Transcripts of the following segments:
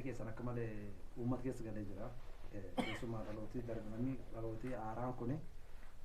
keessan akka male uummata keessa galee jira. Keessumaa dhalootii darbe namni dhalootii haaraan kun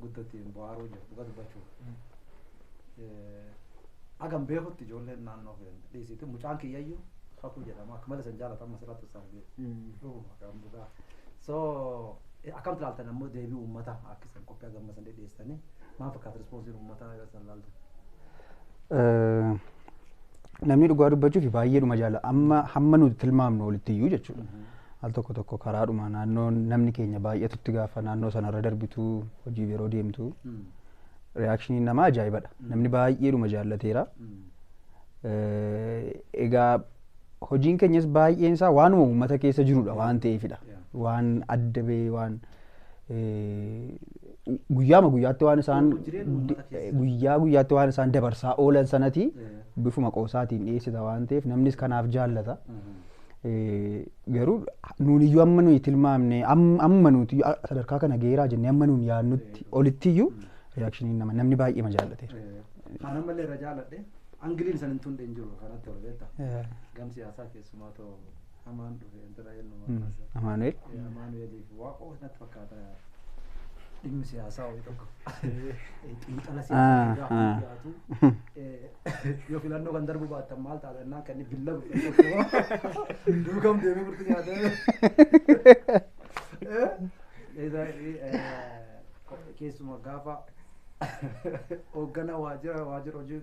guddo ittiin bohaaruu jira dhuga dubbachuuf. Hagam beekutti ijoolleen naannoo keenya dhiisiitti mucaan kiyyayyuu kakuu jedhama akka male san jaalata amma sirratti sargee dhuguma kan dhugaa. So akkam ilaaltan ammoo deebii uummataa akka isan qophii hagamma san dhedheessitanii maal fakkaata rispoonsiin uummataa yoo isan ilaaltan? Namni dhugaa dubbachuuf baay'eedhuma jaala amma hamma nuti tilmaamnu olitti iyyuu jechuudha. Al tokko tokko karaadhuma naannoo namni keenya baay'atutti gaafa naannoo sanarra darbitu hojiif yeroo deemtu reaakshiniin namaa ajaa'ibadha. Namni baay'eedhuma jaallateera. Eh, Egaa hojiin keenyas baay'een isaa waanuma uummata keessa jirudha waan ta'eefidha. Waan adda ba'ee waan guyyaama guyyaatti waan isaan guyyaa guyyaatti waan isaan dabarsaa oolan sanati bifuma qoosaatiin dhiyeessita waan ta'eef namnis kanaaf jaallata. Garuu nuun iyyuu amma nuyi tilmaamne amma nuti sadarkaa kana geeraa jennee amma nuun yaadnutti olitti iyyuu reaakshiniin nama namni baay'eema jaallateera. Kan ammallee irra jaalladhe angiliin san hin tunde hin jiru kanatti ol beekta. Gam siyaasaa keessumaa ta'u Hamaan dhufe intala eenyuma Mm, kaasa. Amaanu'el. Eh, Amaanu'eeliif waaqoo natti fakkaata. Dhimmi siyaasaa wayii tokko. Eh, Xiinxala Ah, siyaasaa irraa ah. kan dhiyaatu. Eh, Yoo filannoo kan darbu baattan maal taata innaan kan inni billa godhe tokko. Duukam deemee murtii nyaatee. Eh, isa, eh, Keessumaa gaafa hoogganaa waajjira waajjira hojii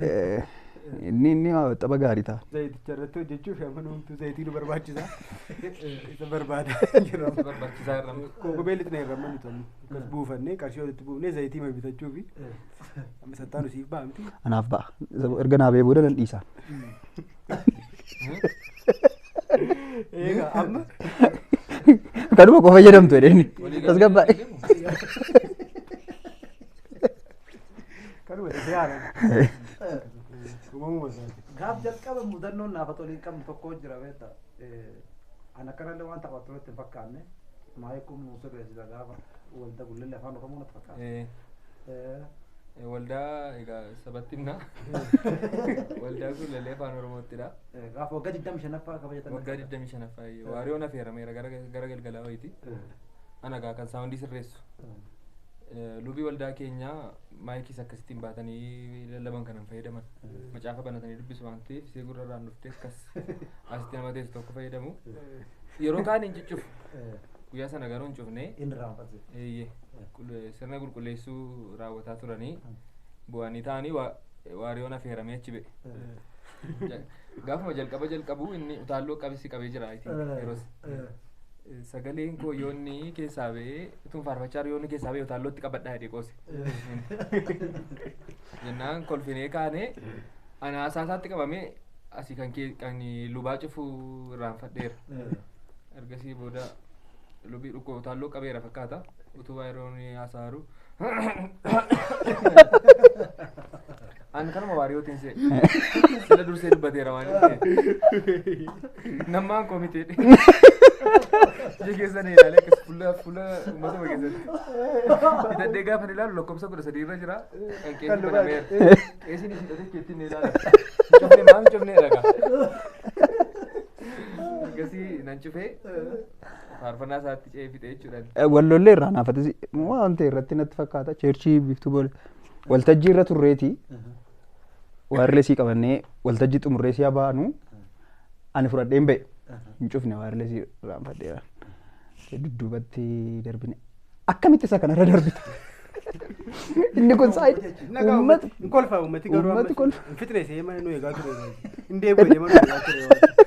Eh, Inni inni xaba gaarii ta'a. Zayiticha irratti hojjechuuf amma nuumtu zayitii nu barbaachisa. Isa barbaada jirra. Barbaachisaa irra amma. Kookobee lixna irra amma nuti amma. Akkas buufannee qarshii walitti buufnee zayitii ma bitachuufi. Amma sattaan usiif ba'amti. Anaaf ba'a. Isa bo- Erga naaf ba'ee booda nan dhiisa. Eegaa amma Kanuma qofa fayyadamtu jedheen. Walii Tasgabbaa'e. galtee hin deemu. Kanuma ta'e haala. Uumamuma isaati. Gaaf jalqaba mudannoon naaf tolii qabnu tokko jira beekta. An akkanallee waan taphattu irratti hin fakkaanne. Maayii kun nu sirreessita gaafa walda gullillee afaan oromoo natti fakkaata. Eh, Eh, eh, Waldaa egaa sabatti himna. Waldaa kun lalee afaan Oromoottidha. eh, Gaafa waggaa 25ffaa kabajatan. Waggaa 25ffaa waariyoon affeerameera gara gara galgalaa wayiiti. Eh, Ana egaa kan saawundii sirreessu. eh. Lubii waldaa keenyaa maayikiis akkasittiin baatanii lallaban kanan fayyadaman. Macaafa banatanii dubbisu waan ta'eef isee gurra irraan dhuftee akkas asitti nama teessu tokko fayyadamu. Yeroo kaan hin ciccufu. Guyyaa sana garuu hin cufnee. Inni raanfate. Eeyyee. Qul- Sirna qulqulleessuu raawwataa turanii bu'anii taa'anii waa- waariyoon affeeramee achi ba'e. Ja- Gaafuma jalqaba jalqabu inni utaalloo qabisi qabee jira I think, yeroos. Sagaleen koo yoonni keessaa ba'ee utuun faarfachaa jiru yoonni keessaa ba'ee utaallootti qabadhaa jedhee qoose. Jennaan kolfinee kaanee ana haasaa isaatti qabamee asii kan kee kan lubaa cufuu irraanfadheera. Ergasii booda lubii dhukkoo utaalloo qabeera fakkaata. Utubaa yeroo inni haasaa jiru Ani kanuma waariyootiin se'e. Sila dursee dubbateera waan inni ta'e. Nammaan komitee dhe. Ija keessan ilaalee akkas fuula fuula uummatuma keessatti. Hidhadhee gaafa ni ilaalu lakkoofsa kudha sadii irra jira. Kan qeesni banameera. Qeesni hidhatee keetti ni ilaala. Cufnee maal cufnee dhagaa. Ergasii nan cufee. Faarfannaa isaatti ce'ee fixee jechuudhaan. Eh, Wal lollee irraa naafatis waan ta'e irratti natti fakkaata. Cheerchii biiftuu boole. Waltajjii irra turreeti. Waayirlesii qabannee waltajjii xumurree si'a baanu ani fudhadhee hin ba'e. Hin cufne waayirlesii raanfadheera. Dudduubatti darbine. Akkamitti isa kanarra darbita? Inni kun saayidii. Nagaa Uummata. hin kolfaa uummati garuu Uummati amma kolfa. hin fixne seema nu eegaa ture. Hin deebi'u deema nu eegaa ture.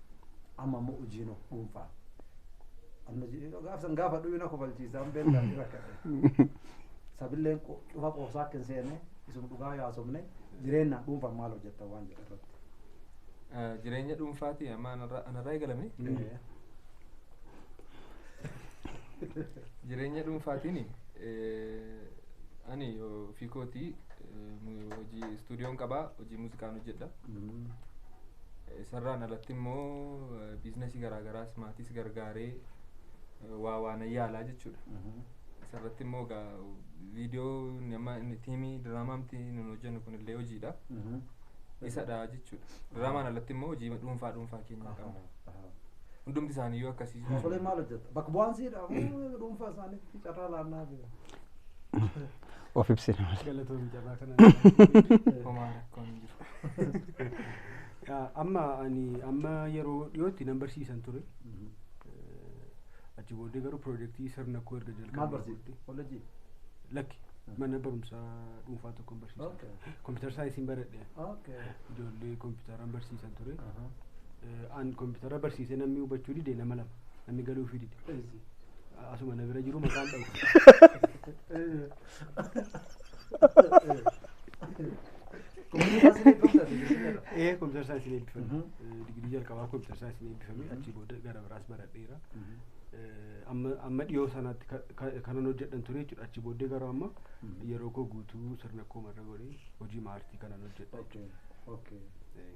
Amma ammoo hojiin of dhuunfaa. Amma jedhee gaaf san gaafa dhuyu na kofalchiisa an beektaa ni rakkadhe. Sabilleen qo- cufa qoobsaa akka hin seene isuma dhugaa yaasofne jireenyaan dhuunfaan maal hojjettan waan jedhe irratti. Eh, Jireenya dhuunfaati amma anarraa anarraa eegalame. Eh, Jireenya dhuunfaatiin eh, ani ofii kootii eh, mu- hojii istuudiyoon qabaa hojii muuziqaan hojjedha. Isarraan alatti immoo biiznasii garaa garaas maatiis gargaaree waa waa nan yaalaa jechuudha. Isarratti immoo egaa viidiyoo inni amma inni tiimii diraamaamti nun hojjennu kunillee hojiidha. Isadha jechuudha. Diraamaan alatti immoo hojii dhuunfaa dhuunfaa keenyaa qabna. Hundumti isaaniiyyuu akkasii jiru. Osolee maal hojjetta? Bakka bu'aan siidha moo dhuunfaa isaaniitti carraa laannaa fi of ibsina malee. Galatoomi jabaa kana homaa rakkoon hin jiru. Yaa, Amma ani amma yeroo dhiyootti nan barsiisan ture. Eh, Achi booddee garuu piroojeektii sirna koo erga Maal jalqabee barsiifte? booddee- Kollejjii? Lakki mana barumsaa dhuunfaa tokkon barsiisan Okay. ture. Kompiitar saayinsiin baradhe. Okay. Ijoollee kompiitaraan barsiisan ture. Aha. Eh, An kompiitara barsiisee namni hubachuu dide nama lama. Namni galuufii dide. Eessi. Asuma na bira jiru maqaan dhabu. Ee kompiitara saayinsiin eebbifame. Digirii jalqabaa kompiitara saayinsiin eebbifame achii booda gara biraas baradheera. Amma amma dhiyoo sanaatti ka- ka- kanan hojjedhan ture jechuudha. Achii booddee garuu amma yeroo koo guutuu sirna koo marra godhee hojii maartii kanan hojjedha jechuudha. Ee.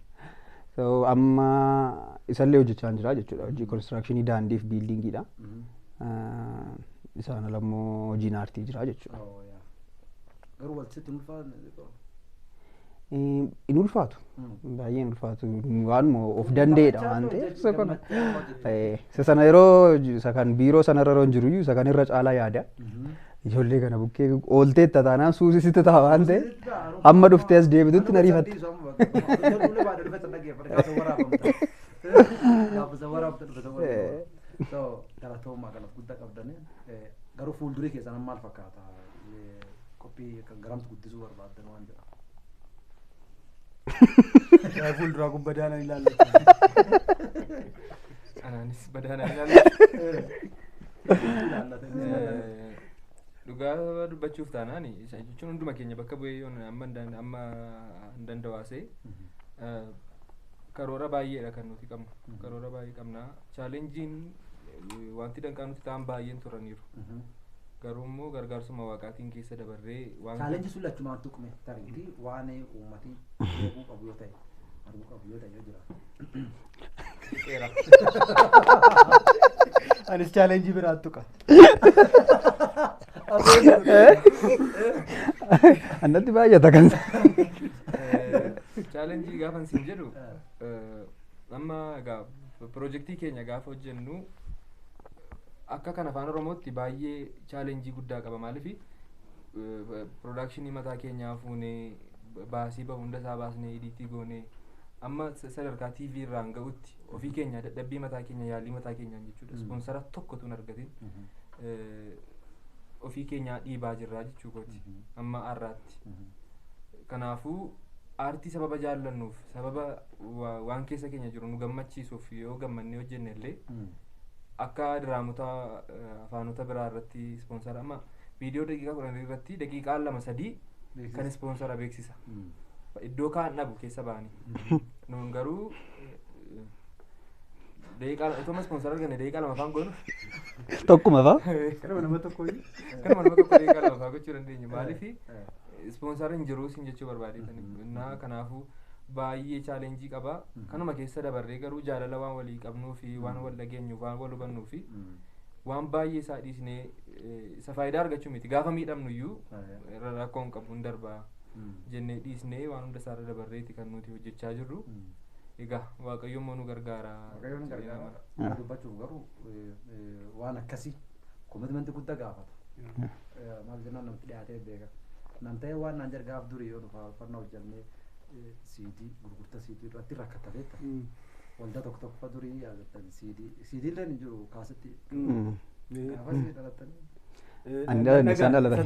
So, amma isallee hojjechaa jira jechuudha. Hojii konistiraakshini daandiif biildiingiidha. Ah, Isaan ala immoo hojiin aartii jira jechuudha. Oh, yeah. Garuu wal sitti hin ulfaanne xiqqoo. Eh, Hin ulfaatu. Mm. Baay'ee hin ulfaatu. Waanuma of danda'edha waan ta'eef. isa kana. Eh, Isa sana yeroo isa kan biiroo sana irra yeroon jiruyyuu isa kan irra caalaa yaada. Ijoollee kana bukkee oolteetta taanaan suusi sitti ta'a waan ta'e hamma dhuftee as deebitutti na riifatte. Galatoomaa galata guddaa qabdanii garuu fuuldurii keessan amma maal fakkaata qophii garamtu guddisuu barbaaddan waan jedhamu. Yaa fuulduraa kun badaanaan ilaallata. Anaanis badaanaan ilaallata. Dhugaa dubbachuuf taanaan isa jechuun hunduma keenya bakka bu'ee yoon amma hin dand- amma hin dandawaasee eh, karoora baay'eedha kan nuti qabnu. Karoora baay'ee qabna. Chaalenjiin eh, wanti danqaa nuti ta'an baay'een turaniiru. Garuu immoo gargaarsuma Waaqaatiin keessa dabarree waan. Challenge sun lachumaan tuqme tariiti waan uummati beekuu qabu yoo ta'e arguu qabu yoo ta'e yoo jiraate. Tuqeera. Anis challenge biraan tuqa. Annatti baay'ata kan. Challenge gaafan siin jedhu eh, Amma egaa pirojektii keenya gaafa hojjennu akka kan afaan oromootti baay'ee chaalenjii guddaa qaba maaliif piroodakshinii mataa keenyaa fuunee baasii bahu hunda isaa baasnee idiitii goonee amma sa- sadarkaa TV irraan ga'utti ofii keenya dadhabbii mataa keenya yaalii mataa keenyaan jechuudha ispoonsara tokko tun argatiin eh, ofii keenyaa dhiibaa jirraa jechuu kooti amma har'aatti. Kanaafuu aartii sababa jaallannuuf sababa wa- waan keessa keenya jiru nu gammachiisuuf yoo gammannee hojjenne illee akka diraamota eh, afaanota biraa irratti ispoonsara amma viidiyoo daqiiqaa kudhan irratti daqiiqaa lama sadii Beeksisa. kan ispoonsara beeksisa iddoo kaan dhabu keessa ba'anii nuun garuu eh, daqiiqaa otoo amma ispoonsara arganne daqiiqaa lama afaan goonu Tokkuma fa? Kanuma nama tokko iyyuu. kanuma nama tokko daqiiqaa lama afaan gochuu dandeenya maaliif ispoonsara hin jiru siin jechuu barbaadetanii innaa kanaafuu baay'ee challenge qaba. Kanuma keessa dabarree garuu jaalala waan walii qabnuu fi waan wal dhageenyuuf waan wal hubannuu fi waan baay'ee isaa dhiisnee eh, isa faayidaa argachuu miti. Gaafa miidhamnu iyyuu Aye. ra- rakkoo hin qabu hin darbaa jennee dhiisnee waan hunda isaarra dabarreeti kan nuti hojjechaa jirru. Egaa waaqayyo immoo nu gargaara. Waaqayyoon jedhee gargaara. nama- Dhugaa dubbachuuf garuu eh, eh, waan akkasii Komitmenti gudda gaafata. Maal jennaan namatti dhiyaatee beeka. Nan ta'ee waan naan jedhe gaaf durii yoo dhufaa uffannaa hojjannee siidii gurgurta siidii irratti rakkatta beekta. Waldaa tokko tokko fa durii yaadattan siidii siidii illee hin jiru kaasitti. Gaafas dhalattan. Ani dhalanne isaan dhalatan.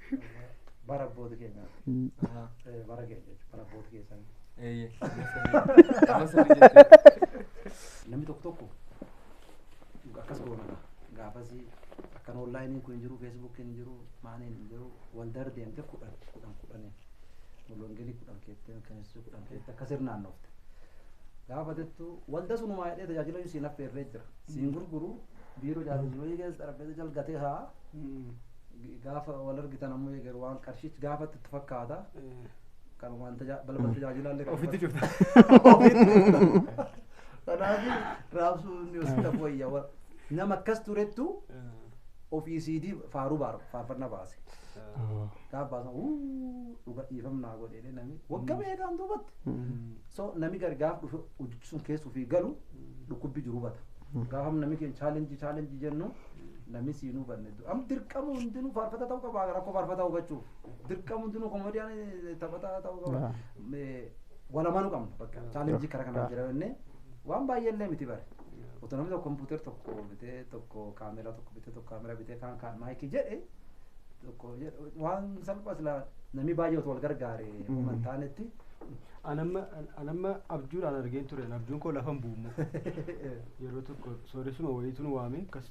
bara abboota keenya eh, bara keenya jechuudha bara abboota keessan Eeyyee. Amma sirrii jechuudha. namni tokko tokko akkas goonadha gaafasi akkan onlaayiniin kun hin jiru feesbuukiin hin jiru maaniin hin jiru wal dardeemte kudhan kudhan kudhaniin mulwangelii kudhan keettee mirkaneessuu kudhan keettee akka sirnaan dhufte gaafa jettu walda sunumaa jedhee tajaajila inni siin affeerree jira siin gurguru biiroo jaalalli keessa xarapheessa jalgatee haa Gaafa wal argitan ammoo eegalu waan qarshichi gaafatti itti fakkaata. Kanumaan tajaa- balbala tajaajilaa illee kan Ofitti cufta. Kanaaf raabsuun ni hospita wayya. wa- Nama akkas turettu ofii siidii faaruu baaru faarfannaa baase. Gaafa baasan "Wuu, dhuga dhiifamnaa godhee namni wagga beekaan duubatti. So nami gari gaafa dhufe hojjechi sun keessa ofii galu dhukkubbi jiru bata. Gaafa nami keenya chaalenjii chaalenjii jennu nami siin hubanne Am dirqamu hundinuu faarfata ta'uu qaba rakkoo faarfataa hubachuuf. Dirqamu hundinuu koomediyaan taphataa ta'uu qaba. Yaa. Me- Wal amanuu qabna bakka chaalenjii karaa kanaan jira jennee waan baay'ee illee miti bare. Otoo namni tokko kompuuter tokko bitee tokko kaameraa tokko bitee tokko kaameraa bitee kaan kaan maayikii jedhe tokko jedhe waan salphaa silaa namni baay'ee otoo wal gargaare uuma hin taanetti. Anamma anamma abjuudhaan argeen ture abjuun koo lafan bu'ummoo yeroo tokko sooressuma wayiitu nu waame akkas